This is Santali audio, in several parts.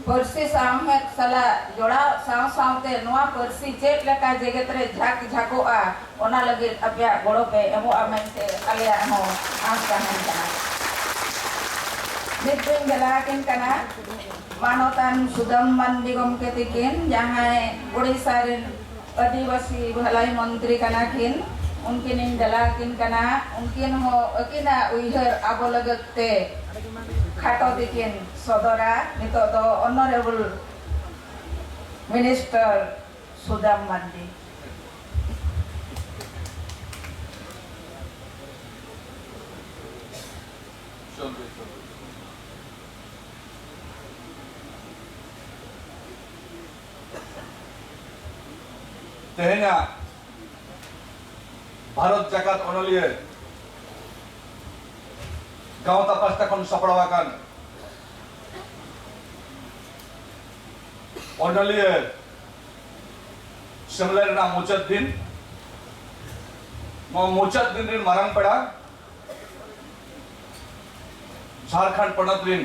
ᱯᱟᱹᱨᱥᱤ ᱥᱟᱶᱦᱮᱫ ᱥᱟᱞᱟᱜ ᱡᱚᱲᱟᱣᱜ ᱥᱟᱶ ᱥᱟᱶᱛᱮ ᱱᱚᱣᱟ ᱯᱟᱹᱨᱥᱤ ᱪᱮᱫ ᱞᱮᱠᱟ ᱡᱮᱜᱮᱛ ᱨᱮ ᱡᱷᱟᱸᱠ ᱡᱷᱟᱸᱠᱚᱜᱼᱟ ᱚᱱᱟ ᱞᱟᱹᱜᱤᱫ ᱟᱯᱮᱭᱟᱜ ᱜᱚᱲᱚ ᱯᱮ ᱮᱢᱚᱜᱼᱟ ᱢᱮᱱᱛᱮ ᱟᱞᱮᱭᱟᱜ ᱦᱚᱸ ᱟᱸᱥ ᱛᱟᱦᱮᱸᱱ ᱠᱟᱱᱟ᱾ ᱱᱤᱛ ᱫᱩᱧ ᱵᱷᱮᱞᱟ ᱟᱹᱠᱤᱱ ᱠᱟᱱᱟ ᱢᱟᱱᱚᱛᱟᱱ ᱥᱩᱫᱟᱹᱢ ᱢᱟᱱᱰᱤ ᱜᱚᱢᱠᱮ ᱛᱤᱠᱤᱱ ᱡᱟᱦᱟᱸᱭ ᱳᱰᱤᱥᱟ ᱨᱤᱱ ᱟᱹᱫᱤᱵᱟᱹᱥᱤ ᱵᱷᱟᱹᱞᱟᱹᱭ ᱢᱚᱱᱛᱨᱤ ᱠᱟᱱᱟ ᱠᱤᱱ ᱩᱱᱠᱤᱱ ᱤᱧ ᱫᱮᱞᱟ ᱟᱹᱠᱤᱱ ᱠᱟᱱᱟ ᱩᱱᱠᱤᱱ ᱦᱚᱸ ᱟᱹᱠᱤᱱᱟᱜ ᱩᱭᱦᱟᱹᱨ ᱟᱵᱚ ᱞᱟᱹᱜᱤᱫ ᱛᱮ ᱠᱷᱟᱴᱚ ᱛᱮᱠᱤᱱ ᱥᱚᱫᱚᱨᱟ ᱱᱤᱛᱚᱜ ᱫᱚ ᱚᱱᱚᱨᱮᱵᱚᱞ ᱢᱤᱱᱤᱥᱴᱟᱨ ᱥᱩᱫᱟᱢ ᱢᱟᱨᱰᱤ ᱛᱮᱦᱮᱧᱟᱜ ᱵᱷᱟᱨᱚᱛ ᱡᱟᱠᱟᱛ ᱚᱱᱚᱞᱤᱭᱟᱹ ᱜᱟᱶᱛᱟ ᱯᱟᱥᱴᱟ ᱠᱷᱚᱱ ᱥᱟᱯᱲᱟᱣ ᱟᱠᱟᱱ ᱚᱱᱚᱞᱤᱭᱟᱹ ᱥᱮᱢᱞᱮ ᱨᱮᱱᱟᱜ ᱢᱩᱪᱟᱹᱫ ᱫᱤᱱ ᱱᱚᱣᱟ ᱢᱩᱪᱟᱹᱫ ᱫᱤᱱ ᱨᱮᱱ ᱢᱟᱨᱟᱝ ᱯᱮᱲᱟ ᱡᱷᱟᱲᱠᱷᱚᱸᱰ ᱯᱚᱱᱚᱛ ᱨᱮᱱ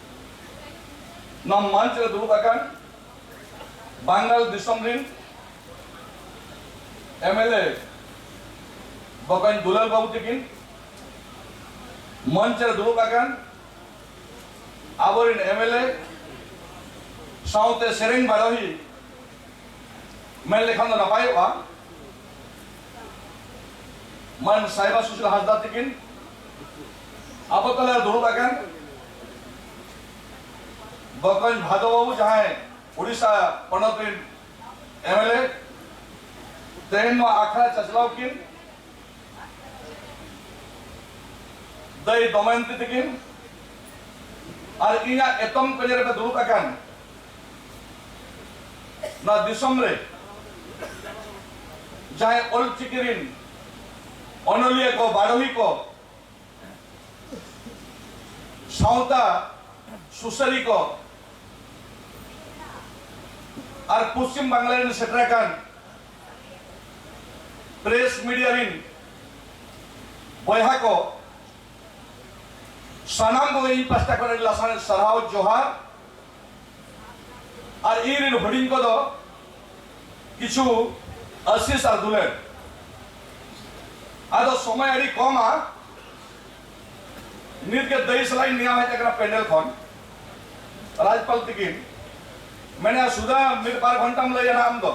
ᱱᱚᱣᱟ ᱢᱚᱧᱪ ᱨᱮ ᱫᱩᱲᱩᱵ ᱟᱠᱟᱱ ᱵᱟᱝᱜᱟᱞ ᱫᱤᱥᱚᱢ ᱨᱤᱱ ᱮᱢᱮᱞᱮ ᱵᱚᱠᱚᱧ ᱫᱩᱞᱟᱞ ᱵᱟᱹᱵᱩ ᱛᱤᱠᱤᱱ ᱢᱚᱧᱪ ᱨᱮ ᱫᱩᱲᱩᱵ ᱟᱠᱟᱱ ᱟᱵᱚᱨᱤᱱ ᱮᱢᱮᱞᱮ ᱥᱟᱶᱛᱮ ᱥᱮᱨᱮᱧ ᱵᱟᱰᱚᱦᱤ ᱢᱮᱱ ᱞᱮᱠᱷᱟᱱ ᱫᱚ ᱱᱟᱯᱟᱭᱚᱜᱼᱟ ᱢᱟᱱ ᱥᱟᱭᱵᱟ ᱥᱩᱥᱤᱞ ᱦᱟᱸᱥᱫᱟ ᱛᱤᱠᱤᱱ ᱟᱵᱚ ᱛᱟᱞᱟ ᱫᱩᱲᱩᱵ ᱟᱠᱟᱱ ᱵᱚᱠᱚᱧ ᱵᱷᱟᱫᱚ ᱵᱟᱹᱵᱩ ᱡᱟᱦᱟᱸᱭ ᱩᱲᱤᱥᱥᱟ ᱯᱚᱱᱚᱛ ᱨᱮᱱ ᱮᱢᱮᱞᱮ ᱛᱮᱦᱮᱧ ᱱᱚᱣᱟ ᱟᱠᱷᱲᱟ ᱪᱟᱪᱞᱟᱣ ᱠᱤᱱ ᱫᱟᱹᱭ ᱫᱚᱢᱚᱭᱚᱱᱛᱤ ᱛᱟᱹᱠᱤᱱ ᱟᱨ ᱤᱧᱟᱹᱜ ᱮᱛᱚᱢ ᱠᱚᱧᱮ ᱨᱮᱯᱮ ᱫᱩᱲᱩᱵ ᱟᱠᱟᱱ ᱱᱚᱣᱟ ᱫᱤᱥᱚᱢ ᱨᱮ ᱡᱟᱦᱟᱸᱭ ᱚᱞ ᱪᱤᱠᱤ ᱨᱮᱱ ᱚᱱᱚᱞᱤᱭᱟᱹ ᱠᱚ ᱵᱟᱰᱚᱦᱤ ᱠᱚ ᱥᱟᱶᱛᱟ ᱥᱩᱥᱟᱹᱨᱤ ᱠᱚ ᱟᱨ ᱯᱚᱥᱪᱤᱢ ᱵᱟᱝᱞᱟ ᱨᱮᱱ ᱥᱮᱴᱮᱨ ᱟᱠᱟᱱ ᱯᱨᱮᱥ ᱢᱤᱰᱤᱭᱟ ᱨᱮᱱ ᱵᱚᱭᱦᱟ ᱠᱚ ᱥᱟᱱᱟᱢ ᱠᱚᱜᱮ ᱤᱧ ᱯᱟᱥᱴᱟ ᱠᱷᱚᱱ ᱟᱹᱰᱤ ᱞᱟᱥᱟᱲᱦᱮᱫ ᱥᱟᱨᱦᱟᱣ ᱡᱚᱦᱟᱨ ᱟᱨ ᱤᱧ ᱨᱮᱱ ᱦᱩᱰᱤᱧ ᱠᱚ ᱫᱚ ᱠᱤᱪᱷᱩ ᱟᱥᱤᱥ ᱟᱨ ᱫᱩᱞᱟᱹᱲ ᱟᱫᱚ ᱥᱚᱢᱚᱭ ᱟᱹᱰᱤ ᱠᱚᱢᱟ ᱱᱤᱛ ᱜᱮ ᱫᱟᱹᱭᱤ ᱥᱟᱞᱟᱜ ᱤᱧ ᱱᱮᱭᱟᱣ ᱦᱮᱡ ᱟᱠᱟᱱᱟ ᱯᱮᱱᱰᱮᱞ ᱠᱷᱚᱱ ᱨᱟᱡᱽᱯᱟᱞ ᱛᱤᱠᱤᱱ ᱢᱮᱱᱮᱜᱼᱟ ᱥᱩᱫᱷᱟ ᱢᱤᱫ ᱵᱟᱨ ᱜᱷᱚᱱᱴᱟᱢ ᱞᱟᱹᱭᱟ ᱟᱢ ᱫᱚ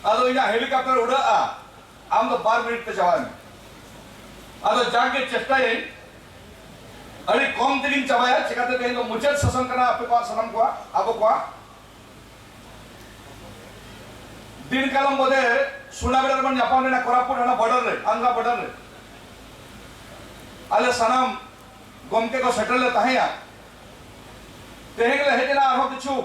ᱟᱫᱚ ᱤᱧᱟᱹᱜ ᱦᱮᱞᱤᱠᱟᱯᱴᱟᱨ ᱩᱰᱟᱹᱜᱼᱟ ᱟᱢ ᱫᱚ ᱵᱟᱨ ᱢᱤᱱᱤᱴ ᱛᱮ ᱪᱟᱵᱟᱭ ᱢᱮ ᱟᱫᱚ ᱡᱟᱜᱮ ᱪᱮᱥᱴᱟᱭᱟᱹᱧ ᱟᱹᱰᱤ ᱠᱚᱢ ᱛᱮᱜᱤᱧ ᱪᱟᱵᱟᱭᱟ ᱪᱮᱠᱟᱛᱮ ᱛᱮᱦᱮᱧ ᱫᱚ ᱢᱩᱪᱟᱹᱫ ᱥᱮᱥᱚᱱ ᱠᱟᱱᱟ ᱟᱯᱮ ᱠᱚᱣᱟᱜ ᱥᱟᱱᱟᱢ ᱠᱚᱣᱟᱜ ᱟᱵᱚ ᱠᱚᱣᱟᱜ ᱫᱤᱱ ᱠᱟᱞᱚᱢ ᱵᱚᱫᱮ ᱥᱩᱱᱟᱵᱮᱲᱟ ᱨᱮᱵᱚᱱ ᱧᱟᱯᱟᱢ ᱞᱮᱱᱟ ᱠᱚᱨᱟᱯᱩᱨ ᱦᱟᱱᱟ ᱵᱚᱰᱟᱨ ᱨᱮ ᱟᱱᱫᱷᱨᱟ ᱵᱚᱰᱟᱨ ᱨᱮ ᱟᱞᱮ ᱥᱟᱱᱟᱢ ᱜᱚᱢᱠᱮ ᱠᱚ ᱥᱮᱴᱮᱨ ᱞᱮ ᱛᱟᱦᱮᱸᱭᱟ ᱛᱮᱦᱮᱧ ᱞᱮ ᱦᱮᱡ ᱮᱱᱟ ᱟᱨᱦᱚᱸ ᱠᱤᱪᱷᱩ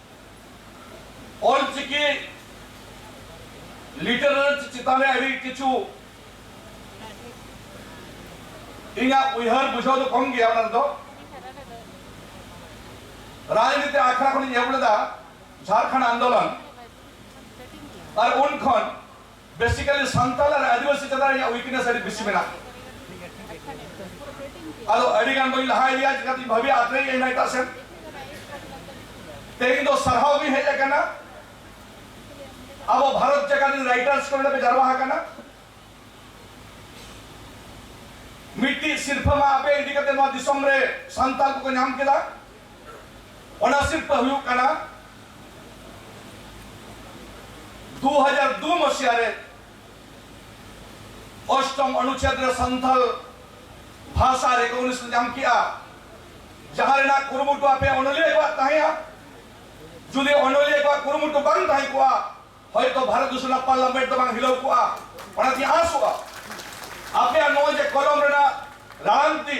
ᱚᱞᱪᱤᱠᱤ ᱞᱤᱴᱟᱨᱮᱪ ᱪᱮᱛᱟᱱ ᱨᱮ ᱟᱹᱰᱤ ᱠᱤᱪᱷᱩ ᱤᱧᱟᱹᱜ ᱩᱭᱦᱟᱹᱨ ᱵᱩᱡᱷᱟᱹᱣ ᱫᱚ ᱠᱚᱢ ᱜᱮᱭᱟ ᱚᱱᱟ ᱨᱮᱫᱚ ᱨᱟᱡᱽᱱᱤᱛᱤ ᱟᱠᱷᱲᱟ ᱠᱷᱚᱱᱤᱧ ᱮᱦᱚᱵ ᱞᱮᱫᱟ ᱡᱷᱟᱨᱠᱷᱚᱸᱰ ᱟᱱᱫᱳᱞᱚᱱ ᱟᱨ ᱩᱱ ᱠᱷᱚᱱ ᱵᱮᱥᱤᱠᱟᱞᱤ ᱥᱟᱱᱛᱟᱞ ᱟᱨ ᱟᱹᱫᱤᱵᱟᱹᱥᱤ ᱪᱮᱛᱟᱱ ᱨᱮ ᱤᱧᱟᱹᱜ ᱩᱭᱤᱠᱱᱮᱥ ᱟᱹᱰᱤ ᱵᱮᱥᱤ ᱢᱮᱱᱟᱜᱼᱟ ᱟᱫᱚ ᱟᱹᱰᱤ ᱜᱟᱱ ᱵᱟᱹᱧ ᱞᱟᱦᱟ ᱤᱫᱤᱭᱟ ᱪᱤᱠᱟᱹᱛᱤᱧ ᱵᱷᱟᱹᱵᱤᱭᱟ ᱟᱛᱨᱮᱧ ᱟᱭᱢᱟ ᱮᱴᱟᱜ ᱥᱮᱱ ᱛᱮᱦᱮᱧ ᱫᱚ ᱥᱟᱨᱦᱟᱣ ᱜᱤᱧ ᱦᱮᱡ ᱟᱠᱟᱱᱟ ᱟᱵᱚ ᱵᱷᱟᱨᱚᱛ ᱡᱟᱠᱟᱛ ᱨᱮᱱ ᱨᱟᱭᱴᱟᱨᱥ ᱠᱚ ᱱᱚᱰᱮ ᱯᱮ ᱡᱟᱨᱣᱟ ᱟᱠᱟᱱᱟ ᱢᱤᱫᱴᱤᱡ ᱥᱤᱨᱯᱷᱟᱹ ᱢᱟ ᱟᱯᱮ ᱤᱫᱤ ᱠᱟᱛᱮ ᱱᱚᱣᱟ ᱫᱤᱥᱚᱢ ᱨᱮ ᱥᱟᱱᱛᱟᱞ ᱠᱚᱠᱚ ᱧᱟᱢ ᱠᱮᱫᱟ ᱚᱱᱟ ᱥᱤᱨᱯᱟᱹ ᱦᱩᱭᱩᱜ ᱠᱟᱱᱟ 2002 ᱢᱚᱥᱤᱭᱟ ᱨᱮ ᱚᱥᱴᱚᱢ ᱚᱱᱩᱪᱷᱮᱫ ᱨᱮ ᱥᱟᱱᱛᱟᱞ ᱵᱷᱟᱥᱟ ᱨᱮᱠᱚᱜᱱᱤᱥᱚᱱ ᱧᱟᱢ ᱠᱮᱜᱼᱟ ᱡᱟᱦᱟᱸ ᱨᱮᱱᱟᱜ ᱠᱩᱨᱩᱢᱩᱴᱩ ᱟᱯᱮ ᱚᱱᱚᱞᱤᱭᱟᱹ ᱠᱚᱣᱟᱜ ᱛᱟᱦᱮᱸᱭᱟ ᱡᱩᱫᱤ ᱚᱱᱚᱞᱤᱭᱟᱹ ᱠᱚᱣᱟᱜ ᱠᱩᱨᱩᱢᱩᱴᱩ ᱵᱟᱝ ᱛᱟᱦᱮᱸ ᱠᱚᱜᱼᱟ ᱦᱚᱭᱛᱚ ᱵᱷᱟᱨᱚᱛ ᱫᱤᱥᱚᱢ ᱨᱮᱱᱟᱜ ᱯᱟᱨᱞᱟᱢᱮᱱᱴ ᱫᱚ ᱵᱟᱝ ᱦᱤᱞᱟᱹᱣ ᱠᱚᱜᱼᱟ ᱚᱱᱟᱛᱮᱧ ᱟᱥᱚᱜᱼᱟ ᱟᱯᱮᱭᱟᱜ ᱱᱚᱜᱼᱚᱭ ᱡᱮ ᱠᱚᱞᱚᱢ ᱨᱮᱱᱟᱜ ᱨᱟᱲᱟᱝᱛᱤ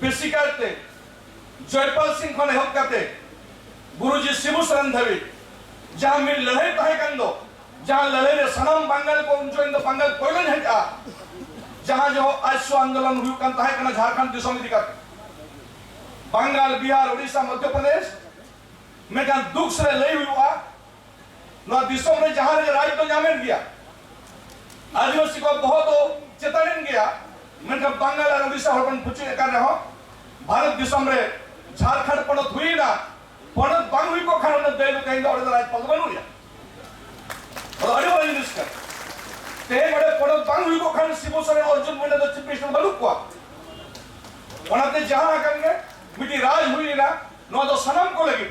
ᱵᱮᱥᱤ ᱠᱟᱭᱛᱮ ᱡᱚᱭᱯᱟᱞ ᱥᱤᱝ ᱠᱷᱚᱱ ᱮᱦᱚᱵ ᱠᱟᱛᱮ ᱜᱩᱨᱩᱡᱤ ᱥᱤᱵᱩ ᱥᱚᱨᱮᱱ ᱫᱷᱟᱹᱵᱤᱡ ᱡᱟᱦᱟᱸ ᱢᱤᱫ ᱞᱟᱹᱲᱦᱟᱹᱭ ᱛᱟᱦᱮᱸ ᱠᱟᱱ ᱫᱚ ᱡᱟᱦᱟᱸ ᱞᱟᱹᱲᱦᱟᱹᱭ ᱨᱮ ᱥᱟᱱᱟᱢ ᱵᱟᱝᱜᱟᱞ ᱠᱚ ᱩᱱ ᱡᱚᱠᱷᱚᱱ ᱫᱚ ᱵᱟᱝᱜᱟᱞ ᱯᱳᱭᱞᱳᱧ ᱦᱮᱡ ᱟ ᱡᱟᱦᱟᱸ ᱡᱚᱦᱚᱜ ᱟᱭᱥᱚ ᱟᱱᱫᱳᱞᱚᱱ ᱦᱩᱭᱩᱜ ᱠᱟᱱ ᱛᱟᱦᱮᱸ ᱠᱟᱱᱟ ᱡᱷᱟᱲᱠᱷᱚᱸᱰ ᱫᱤᱥᱚᱢ ᱤᱫᱤ ᱠᱟᱛᱮ ᱵᱟᱝᱜᱟᱞ ᱵᱤᱦᱟᱨ ᱳᱰᱤᱥᱟ ᱢᱚᱫᱽᱫᱷᱚ ᱯᱨᱚᱫᱮᱥ ᱢᱮᱱᱠᱷᱟᱱ ᱫᱩᱠ ᱥᱮ ᱞᱟᱹᱭ ᱦᱩᱭᱩᱜᱼᱟ ᱱᱚᱣᱟ ᱫᱤᱥᱚᱢ ᱨᱮ ᱡᱟᱦᱟᱸ ᱨᱮᱜᱮ ᱨᱟᱡᱽ ᱫᱚ ᱧᱟᱢᱮᱱ ᱜᱮᱭᱟ ᱟᱹᱫᱤᱵᱟᱹᱥᱤ ᱠᱚ ᱫᱚᱦᱚ ᱫᱚ ᱪᱮᱛᱟᱱᱮᱱ ᱜᱮᱭᱟ ᱢᱮᱱᱠᱷᱟᱱ ᱵᱟᱝᱜᱟᱞ ᱟᱨ ᱳᱰᱤᱥᱟ ᱦᱚᱲ ᱵᱚᱱ ᱯᱩᱪᱩᱡ ᱟᱠᱟᱱ ᱨᱮᱦᱚᱸ ᱵᱷᱟᱨᱚᱛ ᱫᱤᱥᱚᱢ ᱨᱮ ᱡᱷᱟᱲᱠᱷᱚᱸᱰ ᱯᱚᱱᱚᱛ ᱦᱩᱭᱮᱱᱟ ᱯᱚᱱᱚᱛ ᱵᱟᱝ ᱦᱩᱭ ᱠᱚᱜ ᱠᱷᱟᱱ ᱚᱱᱟ ᱫᱟᱹᱭ ᱫᱚ ᱛᱮᱦᱮᱧ ᱫᱚ ᱚᱸᱰᱮ ᱫᱚ ᱨᱟᱡᱽᱯᱟᱞ ᱫᱚ ᱵᱟᱹᱱᱩᱜᱼᱟ ᱟᱫᱚ ᱟᱹᱰᱤ ᱢᱟᱨᱟᱝ ᱡᱤᱱᱤᱥ ᱠᱟᱱᱟ ᱛᱮᱦᱮᱧ ᱚᱸᱰᱮ ᱯᱚᱱᱚᱛ ᱵᱟᱝ ᱦᱩᱭ ᱠᱚᱜ ᱠᱷᱟᱱ ᱥᱤᱵᱩ ᱥᱚᱨᱮᱱ ᱚᱨᱡᱩᱱ ᱢᱩᱱᱰᱟ ᱫᱚ ᱪᱤᱯ ᱢᱤᱱᱤᱥᱴᱟᱨ ᱵᱟᱹᱱᱩᱜ ᱠᱚᱣᱟ ᱚᱱᱟᱛᱮ ᱡᱟᱦᱟᱸ ᱟᱠᱟᱱ ᱜᱮ ᱢᱤᱫᱴᱤᱡ ᱨᱟᱡᱽ ᱦᱩᱭᱮᱱᱟ ᱱᱚᱣᱟ ᱫᱚ ᱥᱟᱱᱟᱢ ᱠᱚ ᱞᱟᱹᱜᱤᱫ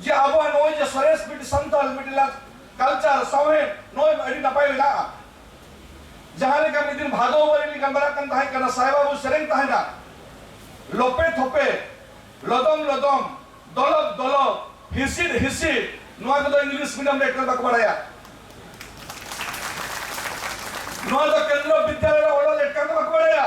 ᱡᱮ ᱟᱵᱚᱣᱟᱜ ᱱᱚᱜᱼᱚᱭ ᱡᱮ ᱥᱚᱨᱮᱥ ᱢᱤᱫᱴᱤᱡ ᱥᱟᱱᱛᱟᱲ ᱢᱤᱫᱴᱤᱡ ᱞᱟᱠ ᱠᱟᱞᱪᱟᱨ ᱥᱟᱶᱦᱮᱫ ᱱᱚᱜᱼᱚᱭ ᱟᱹᱰᱤ ᱱᱟᱯᱟᱭ ᱢᱮᱱᱟᱜᱼᱟ ᱡᱟᱦᱟᱸ ᱞᱮᱠᱟ ᱢᱤᱫ ᱫᱤᱱ ᱵᱷᱟᱫᱚ ᱵᱟᱹᱨᱤ ᱞᱤᱧ ᱜᱟᱞᱢᱟᱨᱟᱜ ᱠᱟᱱ ᱛᱟᱦᱮᱸ ᱠᱟᱱᱟ ᱥᱟᱭ ᱵᱟᱹᱵᱩ ᱥᱮᱨᱮᱧ ᱛᱟᱦᱮᱱᱟ ᱞᱚᱯᱮ ᱛᱷᱚᱯᱮ ᱞᱚᱫᱚᱢ ᱞᱚᱫᱚᱢ ᱫᱚᱞᱚᱵ ᱫᱚᱞᱚᱵ ᱦᱤᱥᱤᱫ ᱦᱤᱥᱤᱫ ᱱᱚᱣᱟ ᱠᱚᱫᱚ ᱤᱝᱞᱤᱥ ᱢᱤᱰᱤᱭᱟᱢ ᱨᱮ ᱮᱠᱟᱞ ᱵᱟᱠᱚ ᱵᱟᱲᱟᱭᱟ ᱱᱚᱣᱟ ᱫᱚ ᱠᱮᱱᱫᱨᱚ ᱵᱤᱫᱽᱫᱟᱞᱚᱭ ᱨᱮ ᱚᱞᱚᱜ ᱮᱠᱟᱞ ᱵᱟᱠᱚ ᱵᱟᱲᱟᱭᱟ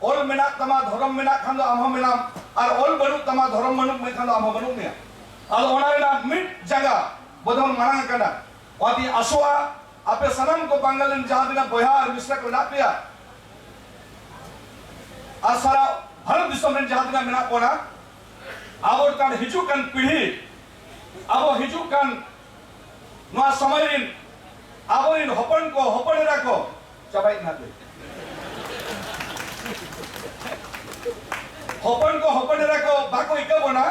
ᱚᱞ ᱢᱮᱱᱟᱜ ᱛᱟᱢᱟ ᱫᱷᱚᱨᱚᱢ ᱢᱮᱱᱟᱜ ᱠᱷᱟᱱ ᱫᱚ ᱟᱢ ᱦᱚᱸ ᱢᱮᱱᱟᱢ ᱟᱨ ᱚᱞ ᱵᱟᱹᱱᱩᱜ ᱛᱟᱢᱟ ᱫᱷᱚᱨᱚᱢ ᱵᱟᱹᱱᱩᱜ ᱢᱮᱠᱷᱟᱱ ᱫᱚ ᱟᱢ ᱦᱚᱸ ᱵᱟᱹᱱᱩᱜ ᱢᱮᱭᱟ ᱟᱫᱚ ᱚᱱᱟ ᱨᱮᱱᱟᱜ ᱢᱤᱫ ᱡᱟᱸᱜᱟ ᱵᱚᱫᱚᱞ ᱢᱟᱲᱟᱝ ᱟᱠᱟᱱᱟ ᱚᱱᱟᱛᱮᱧ ᱟᱥᱚᱜᱼᱟ ᱟᱯᱮ ᱥᱟᱱᱟᱢ ᱠᱚ ᱵᱟᱝᱜᱟᱞ ᱨᱮᱱ ᱡᱟᱦᱟᱸ ᱛᱤᱱᱟᱹᱜ ᱵᱚᱭᱦᱟ ᱟᱨ ᱢᱤᱥᱨᱟ ᱠᱚ ᱢᱮᱱᱟᱜ ᱯᱮᱭᱟ ᱟᱨ ᱥᱟᱨᱟ ᱵᱷᱟᱨᱚᱛ ᱫᱤᱥᱚᱢ ᱨᱮᱱ ᱡᱟᱦᱟᱸ ᱛᱤᱱᱟᱹᱜ ᱢᱮᱱᱟᱜ ᱵᱚᱱᱟ ᱟᱵᱚ ᱠᱟᱱ ᱦᱤᱡᱩᱜ ᱠᱟᱱ ᱯᱤᱲᱦᱤ ᱟᱵᱚ ᱦᱤᱡᱩᱜ ᱠᱟᱱ ᱱᱚᱣᱟ ᱥᱚᱢᱚᱭ ᱨᱮᱱ ᱟᱵᱚᱨᱮᱱ ᱦᱚᱯᱚᱱ ᱠᱚ ᱦᱚᱯᱚᱱ ᱮᱨᱟ ᱠᱚ ᱪᱟᱵᱟᱭᱮᱫ ᱱᱟᱯᱮ ᱦᱚᱯᱚᱱ ᱠᱚ ᱦᱚᱯᱚᱱ ᱮᱨᱟ ᱠᱚ ᱵᱟᱠᱚ ᱤᱠᱟᱹ ᱵᱚᱱᱟ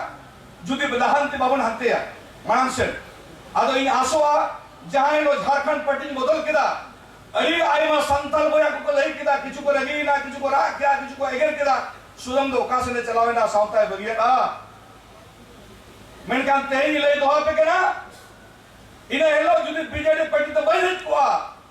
ᱡᱩᱫᱤ ᱞᱟᱦᱟᱱᱛᱤ ᱵᱟᱵᱚᱱ ᱦᱟᱱᱛᱮᱭᱟ ᱢᱟᱲᱟᱝ ᱥᱮᱫ ᱟᱫᱚ ᱤᱧ ᱟᱥᱚᱜᱼᱟ ᱡᱟᱦᱟᱸᱭ ᱱᱚᱣᱟ ᱡᱷᱟᱨᱠᱷᱚᱸᱰ ᱯᱟᱨᱴᱤᱧ ᱵᱚᱫᱚᱞ ᱠᱮᱫᱟ ᱟᱹᱰᱤ ᱟᱭᱢᱟ ᱥᱟᱱᱛᱟᱲ ᱵᱚᱭᱦᱟ ᱠᱚᱠᱚ ᱞᱟᱹᱭ ᱠᱮᱫᱟ ᱠᱤᱪᱷᱩ ᱠᱚ ᱨᱟᱹᱜᱤᱭᱮᱱᱟ ᱠᱤᱪᱷᱩ ᱠᱚ ᱨᱟᱜ ᱠᱮᱫᱟ ᱠᱤᱪᱷᱩ ᱠᱚ ᱮᱜᱮᱨ ᱠᱮᱫᱟ ᱥᱩᱫᱚᱢ ᱫᱚ ᱚᱠᱟ ᱥᱮᱫ ᱮ ᱪᱟᱞᱟᱣ ᱮᱱᱟ ᱥᱟᱶᱛᱟᱭ ᱵᱟᱹᱜᱤᱭᱟᱫᱼᱟ ᱢᱮᱱᱠᱷᱟᱱ ᱛᱮᱦᱮᱧ ᱞᱟᱹᱭ ᱫᱚᱦᱚ ᱟᱯᱮ ᱠᱟᱱᱟ ᱤᱱᱟᱹ ᱦᱤᱞᱳᱜ ᱡᱩᱫᱤ ᱵᱤᱡᱮᱰᱤ ᱯᱟᱨᱴᱤ ᱫᱚ ᱵᱟᱹᱧ ᱦᱮᱡ ᱠᱚᱜᱼᱟ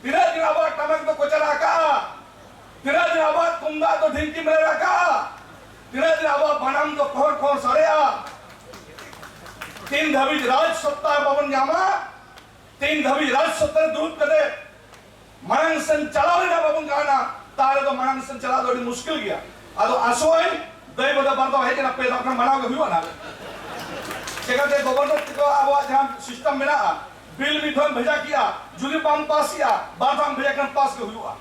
ᱛᱤᱱᱟᱹᱜ ᱫᱤᱱ ᱟᱵᱚᱣᱟᱜ ᱴᱟᱢᱟᱠ ᱫᱚ ᱠᱚᱪᱟᱨᱟ ᱟᱠᱟᱜᱼᱟ ᱛᱤᱱᱟᱹᱜ ᱫᱤᱱ ᱟᱵᱚᱣᱟᱜ ᱛᱩᱢᱫᱟᱜ ᱫᱚ ᱰᱷᱤᱝᱠᱤ ᱢᱮᱨᱮᱨ ᱟᱠᱟᱜᱼᱟ ᱛᱤᱱᱟᱹᱜ ᱫᱤᱱ ᱟᱵᱚᱣᱟᱜ ᱵᱟᱱᱟᱢ ᱫᱚ ᱠᱚᱦᱚᱨ ᱠᱚᱦᱚᱨ ᱥᱟᱰᱮᱜᱼᱟ ᱛᱤᱱ ᱫᱷᱟᱹᱵᱤᱡ ᱨᱟᱡᱽ ᱥᱚᱛᱛᱟ ᱵᱟᱵᱚᱱ ᱧᱟᱢᱟ ᱛᱤᱱ ᱫᱷᱟᱹᱵᱤᱡ ᱨᱟᱡᱽ ᱥᱚᱛᱛᱟ ᱨᱮ ᱫᱩᱲᱩᱵ ᱠᱟᱛᱮ ᱢᱟᱲᱟᱝ ᱥᱮᱱ ᱪᱟᱞᱟᱣ ᱨᱮᱱᱟᱜ ᱵᱟᱵᱚᱱ ᱜᱟᱱᱟ ᱛᱟᱦᱞᱮ ᱫᱚ ᱢᱟᱲᱟᱝ ᱥᱮᱱ ᱪᱟᱞᱟᱣ ᱫᱚ ᱟᱹᱰᱤ ᱢᱩᱥᱠᱤᱞ ᱜᱮᱭᱟ ᱟᱫᱚ ᱟᱥᱚᱭ ᱫᱟᱹᱭ ᱵᱚᱫᱟ ᱵᱟᱨ ᱫᱚ ᱦᱮᱡ ᱮᱱᱟ ᱯᱮ ᱫᱚ ᱢᱟᱱᱟᱣ ᱜᱮ ᱦᱩᱭᱩᱜᱼᱟ ᱪᱮᱠᱟᱛᱮ ᱜᱚᱵᱚᱨᱱᱚᱨ ᱛᱮᱠᱚ ᱟᱵᱚᱣᱟᱜ ᱡᱟᱦᱟᱸ ᱥᱤᱥᱴᱮᱢ ᱢᱮᱱᱟᱜᱼᱟ ᱵᱤᱞ ᱢᱤᱫ ᱫᱷᱟᱣ ᱵᱷᱮᱡᱟ ᱠᱮᱜᱼᱟ ᱡᱩᱫᱤ ᱵᱟᱢ ᱯᱟᱥ ᱮᱜᱼᱟ ᱵᱟᱨ ᱫᱷᱟᱣ ᱵᱷᱮᱡᱟ ᱠᱷᱟᱱ ᱯᱟᱥ ᱜᱮ ᱦᱩᱭᱩᱜᱼᱟ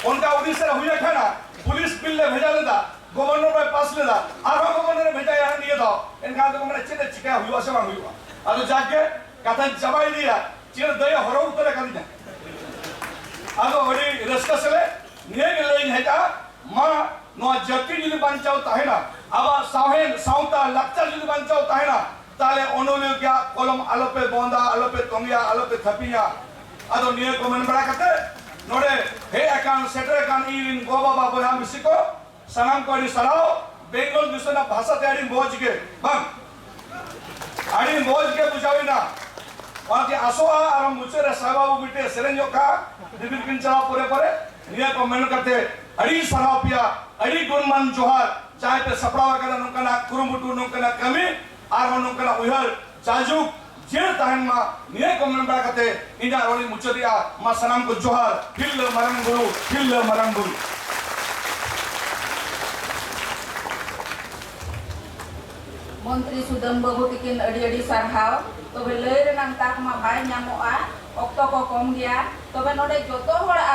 ᱚᱱᱠᱟ ᱩᱲᱤᱥᱥᱟ ᱨᱮ ᱦᱩᱭ ᱟᱠᱟᱱᱟ ᱯᱩᱞᱤᱥ ᱵᱤᱞ ᱞᱮ ᱵᱷᱮᱡᱟ ᱞᱮᱫᱟ ᱜᱚᱵᱷᱚᱨᱱᱚᱨ ᱵᱟᱭ ᱯᱟᱥ ᱞᱮᱫᱟ ᱟᱨᱦᱚᱸ ᱜᱚᱵᱷᱚᱨᱱᱚᱨ ᱵᱷᱮᱡᱟᱭᱟ ᱱᱤᱭᱟᱹ ᱫᱚ ᱮᱱᱠᱷᱟᱱ ᱫᱚ ᱢᱟᱱᱮ ᱪᱮᱫ ᱮ ᱪᱤᱠᱟ ᱦᱩᱭᱩᱜᱼᱟ ᱥᱮ ᱵᱟᱝ ᱦᱩᱭᱩᱜᱼᱟ ᱟᱫᱚ ᱡᱟᱜᱮ ᱠᱟᱛᱷᱟᱧ ᱪᱟᱵᱟ ᱤᱫᱤᱭᱟ ᱪᱮᱫ ᱫᱟᱹᱭ ᱦᱚᱨᱚ ᱩᱛᱟᱹᱨ ᱟᱠᱟᱫᱤᱧᱟ ᱟᱫᱚ ᱟᱹᱰᱤ ᱨᱟᱹᱥᱠᱟᱹ ᱥᱮᱞᱮ ᱱᱤᱭᱟᱹ ᱜᱮ ᱞᱟᱹᱭ ᱦᱮᱡ ᱟ ᱢᱟ ᱱᱚᱣᱟ ᱡᱟᱹᱛᱤ ᱡᱩᱫᱤ ᱵᱟᱧᱪᱟᱣ ᱛᱟᱦᱮᱱᱟ ᱟᱵᱚᱣᱟᱜ ᱥᱟᱶᱦᱮᱫ ᱥᱟᱶᱛᱟ ᱞᱟᱠᱪᱟᱨ ᱡᱩᱫᱤ ᱵᱟᱧᱪᱟᱣ ᱛᱟᱦᱮᱱᱟ ᱛᱟᱦᱞᱮ ᱚᱱᱚᱞᱤᱭᱟᱹ ᱠᱮᱭᱟᱜ ᱠᱚᱞᱚᱢ ᱟᱞᱚ ᱯᱮ ᱵᱚᱱᱫᱟ ᱟᱞᱚ ᱯᱮ ᱛᱚᱝᱜᱮᱭᱟ ᱟᱞᱚ ᱯᱮ ᱛᱷᱟᱯᱤᱧᱟ ᱟᱫᱚ ᱱᱤᱭᱟᱹ ᱠᱚ ᱢᱮᱱ ᱵᱟᱲᱟ ᱠᱟᱛᱮ ᱱᱚᱰᱮ ᱦᱮᱡ ᱟᱠᱟᱱ ᱥᱮᱴᱮᱨ ᱟᱠᱟᱱ ᱤᱧ ᱨᱤᱱ ᱜᱚ ᱵᱟᱵᱟ ᱵᱚᱭᱦᱟ ᱢᱤᱥᱤ ᱠᱚ ᱥᱟᱱᱟᱢ ᱠᱚ ᱟᱹᱰᱤ ᱥᱟᱨᱦᱟᱣ ᱵᱮᱝᱜᱚᱞ ᱫᱤᱥᱚᱢ ᱨᱮᱱᱟᱜ ᱵᱷᱟᱥᱟ ᱛᱮ ᱟᱹᱰᱤ ᱢᱚᱡᱽ ᱜᱮ ᱵᱟᱝ ᱟᱹᱰᱤ ᱢᱚᱡᱽ ᱜᱮ ᱵᱩᱡᱷᱟᱹᱣᱮᱱᱟ ᱚᱱᱟᱛᱮ ᱟᱥᱚᱜᱼᱟ ᱟᱨ ᱢᱩᱪᱟᱹᱫ ᱨᱮ ᱥᱟᱭ ᱵᱟᱹᱵᱩ ᱢᱤᱫᱴᱮᱡ ᱥᱮᱨᱮᱧ ᱧᱚᱜ ᱠᱟᱜᱼᱟ ᱵᱤᱵᱤᱞ ᱠᱤᱱ ᱪᱟᱞᱟᱣ ᱯᱚᱨᱮ ᱯᱚᱨᱮ ᱱᱤᱭᱟᱹ ᱠᱚ ᱢᱮᱱ ᱠᱟᱛᱮ ᱟᱹᱰᱤ ᱥᱟᱨᱦᱟᱣ ᱯᱮᱭᱟ ᱟᱹᱰᱤ ᱜᱩᱱᱢᱟᱱ ᱡᱚᱦᱟᱨ ᱡᱟᱦᱟᱸᱭ ᱯᱮ ᱥᱟᱯᱲᱟᱣ ᱟᱠᱟᱫᱟ ᱱᱚᱝᱠᱟᱱᱟᱜ ᱠᱩᱨᱩᱢᱩᱴᱩ ᱱᱚᱝᱠᱟᱱᱟᱜ ᱠᱟᱹᱢᱤ ᱟᱨᱦᱚᱸ ᱱᱚᱝᱠᱟᱱᱟᱜ ᱩᱭᱦᱟᱹᱨ ᱡᱟᱭᱡᱩᱜᱽ ᱡᱤᱭᱟᱹᱲ ᱛᱟᱦᱮᱱ ᱢᱟ ᱱᱤᱭᱟᱹ ᱠᱚ ᱢᱮᱱ ᱵᱟᱲᱟ ᱠᱟᱛᱮ ᱤᱧᱟᱹᱜ ᱨᱚᱲᱤᱧ ᱢᱩᱪᱟᱹᱫᱮᱜᱼᱟ ᱢᱟ ᱥᱟᱱᱟᱢ ᱠᱚ ᱡᱚᱦᱟᱨ ᱛᱤᱨᱞᱟᱹ ᱢᱟᱨᱟᱝ ᱵᱩᱨᱩ ᱛᱤᱨᱞᱟᱹ ᱢᱟᱨᱟᱝ ᱵᱩᱨᱩ ᱢᱚᱱᱛᱨᱤ ᱥᱩᱫᱟᱹᱢ ᱵᱟᱹᱵᱩ ᱛᱤᱠᱤᱱ ᱟᱹᱰᱤ ᱟᱹᱰᱤ ᱥᱟᱨᱦᱟᱣ ᱛᱚᱵᱮ ᱞᱟᱹᱭ ᱨᱮᱱᱟᱜ ᱛᱟᱠ ᱢᱟ ᱵᱟᱭ ᱧᱟᱢᱚᱜᱼᱟ ᱚᱠᱛᱚ ᱠᱚ ᱠᱚᱢ ᱜᱮᱭᱟ ᱛᱚᱵᱮ ᱱᱚᱰᱮ ᱡᱚᱛᱚ ᱦᱚᱲ